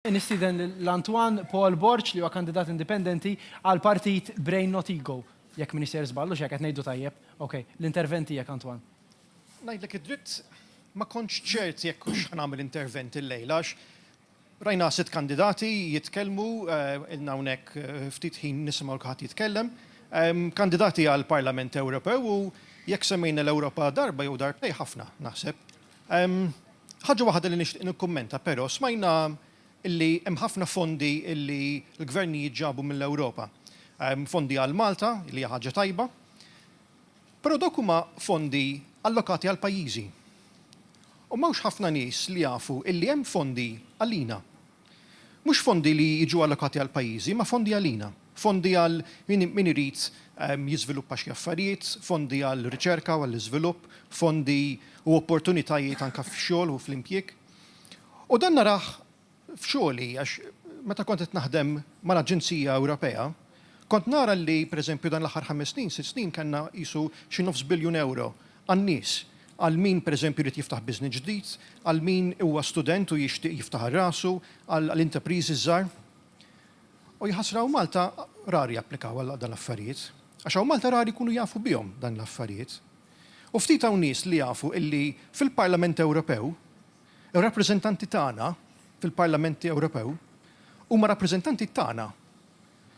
Nistieden lil Antoine Paul Borg li huwa kandidat indipendenti għall-partit Brain Not Ego, jekk m'iniex sejjer żball, hux hekk, qed ngħidu tajjeb? Ok, l-intervent tiegħek Antoine. Ngħidlek id-dritt, ma kontx ċert jekk hux ħa nagħmel intervent illejla għax rajna sitt kandidati jitkellmu, ilna hawnhekk ftit ħin nisimgħu lil kulħadd jitkellem, kandidati għall-Parlament Ewropew u jekk semmejna l-Ewropa darba jew darbtejn ħafna, naħseb. Ħaġa waħda li nixtieq nikkummenta però, smajna li hemm ħafna fondi li l-gvernijiet ġabu mill-Ewropa. Fondi għal Malta, li hija ħaġa tajba, però dawk huma fondi allokati għall-pajjiżi. U m'hawnx ħafna nies li jafu li hemm fondi għalina, Mhux fondi li jiġu allokati għall-pajjiżi, imma fondi għalina. Fondi għal min irid jiżviluppa xi affarijiet, fondi għar-riċerka u għall-iżvilupp, fondi u opportunitajiet anke fix-xogħol u fl-impjieg. U dan narah f'xogħli għax meta kont qed naħdem mal-Aġenzija Ewropea, kont nara li, pereżempju, dan l-aħħar ħames snin, sitt snin kellna qisu xi nofs biljun ewro għan-nies, għal min pereżempju jrid jiftaħ business ġdid, għal min huwa student u jixtieq jiftaħar rasu, għal intrapriżi żgħar. U jaħasra hawn Malta rari japplikaw għal dan l-affarijiet. Għax hawn Malta rari jkunu jafu bihom dan l-affarijiet. U ftit hawn nies li jafu illi fil-Parlament Ewropew ir-rappreżentanti tagħna fil-Parlament Ewropew huma rappreżentanti tagħna.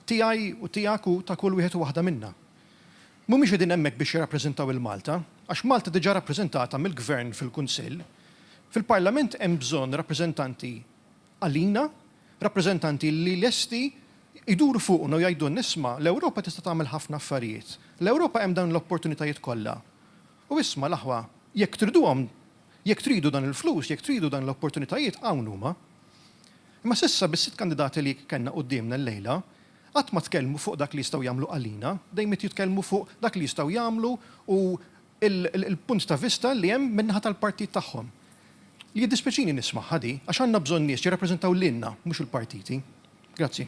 Tiegħi u tiegħek u ta' kull wieħed u waħda minna. Mhumiex qegħdin hemmhekk biex jirrappreżentaw 'il Malta, għax Malta diġà rappreżentata mill-Gvern fil-Kunsill. Fil-Parlament hemm bżonn rappreżentanti għalina, rappreżentanti li lesti jduru fuqna u jgħidulna isma' l-Ewropa tista' tagħmel ħafna affarijiet. L-Ewropa hemm dawn l-opportunitajiet kollha. U isma' l-aħwa, jekk triduhom, jekk tridu dan il-flus, jekk tridu dan l-opportunitajiet, hawn huma. Imma s'issa bis-sitt kandidati li kellna quddiemna llejla, qatt ma tkellmu fuq dak li jistgħu jagħmlu għalina, dejjem qed jitkellmu fuq dak li jistgħu jagħmlu u l-punt ta' vista li hemm min-naħa tal-partit tagħhom. Jiddispjaċini nismagħha di, għax għandna bżonn nies jirrappreżentaw lilna, mhux il-partiti. Grazzi.